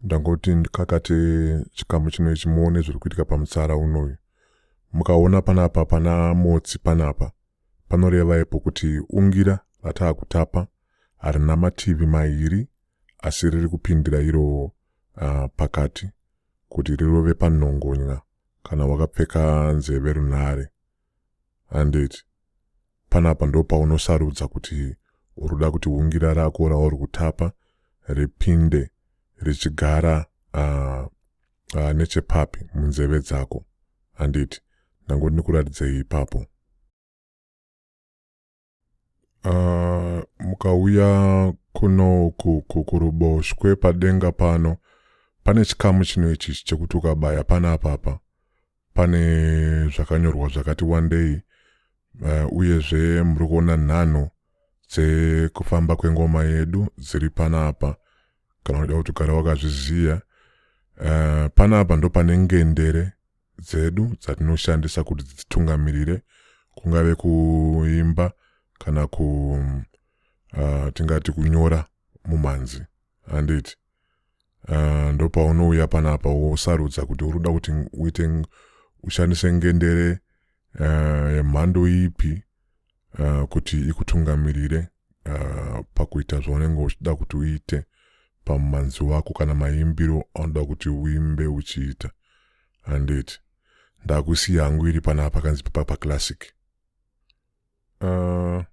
ndangoti ndikakate chikamu chino ichi muone zviri kuitika pamutsara unoyu mukaona panapa pana motsi panapa panoreva ipo kuti ungira rataa kutapa harina mativi mairi asi riri kupindira iro uh, pakati kuti rirove panhongonya kana wakapfeka nzeve runhare Handiti panapa ndopaunosarudza kuti uruda kuti hungira rako rauri kutapa ripinde richigara uh, uh, nechepapi munzeve dzako handiti ndango ndinikuratidzei ipapo uh, mukauya kuno kuruboshwe padenga pano pane chikamu chino ichi chekuti ukabaya pana apapa pane zvakanyorwa zvakati wandei uh, uyezve muri kuona nhanho dzekufamba kwengoma yedu dziri panapa kana uda kuti ugara wakazviziva uh, eh, panapa ndopane ngendere dzedu dzatinoshandisa kuti dzitungamirire kungave kuimba kana ku uh, tingati kunyora mumhanzi handiti uh, ah, ndopaunouya panapa wosarudza kuti uri kuda kuti uite ushandise ngendere uh, yemhando ipi uh, kuti ikutungamirire uh, pakuita zvaunenge uchida kuti uite pamumanzi wako kana maimbiro anoda kuti uimbe uchiita handiti ndakusiya hangu iri panaa pakanzi papaclassic uh,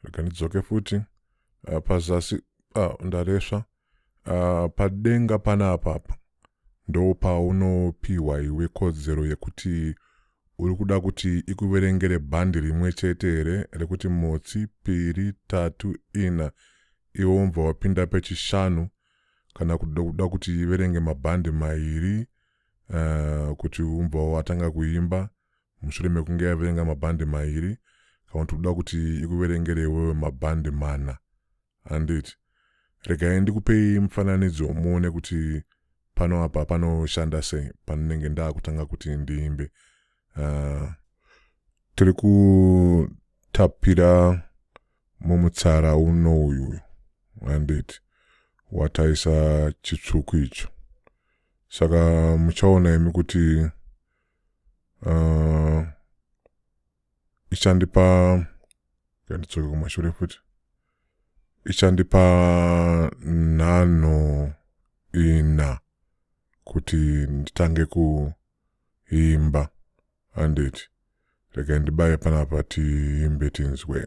rega ndidzoke futi uh, pazasi uh, ndaresva Uh, padenga panapa apa ndo paunopiwa iwe kodzero yekuti uri kuda kuti ikuverengere bhandi rimwe chete here rekuti motsi piri tatu ina iwe umbva wapinda pechishanu kana kuda kuti iverenge mabhandi mairi uh, kuti umbva watanga kuimba mushure mekunge yaverenga mabhandi mairi kana kuti uda kuti ikuverengere iwewe mabhandi mana handiti? Regai ndikupei mufananidzo muone kuti pano apa panoshanda sei panenge ndakutanga kuti ndiimbe. Uh, tiri kutapira mumutsara uno uyu handiti wataisa chitsvuku icho saka muchaona imi kuti uh, ichandipa yandidzoke kumashure futi ichandipa nhanho ina kuti nditange kuimba handiti regai ndibaye panapa tiimbe tinzwe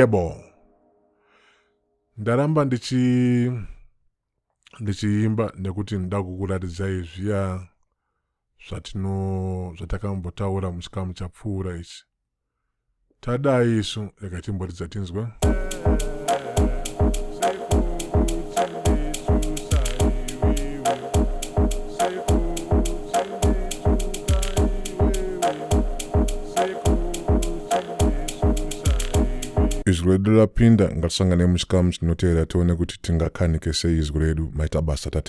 yebo ndaramba ndichi ndichiimba nekuti ndoda kukuratidzai zviya zvatino zvatakambotaura muchikamu chapfuura ichi tadai isu rega timboridza tinzwe izwi redu rapinda ngatisangane muchikamu chinotevera tione kuti tingakanike sei izwi redu maita basa tatenda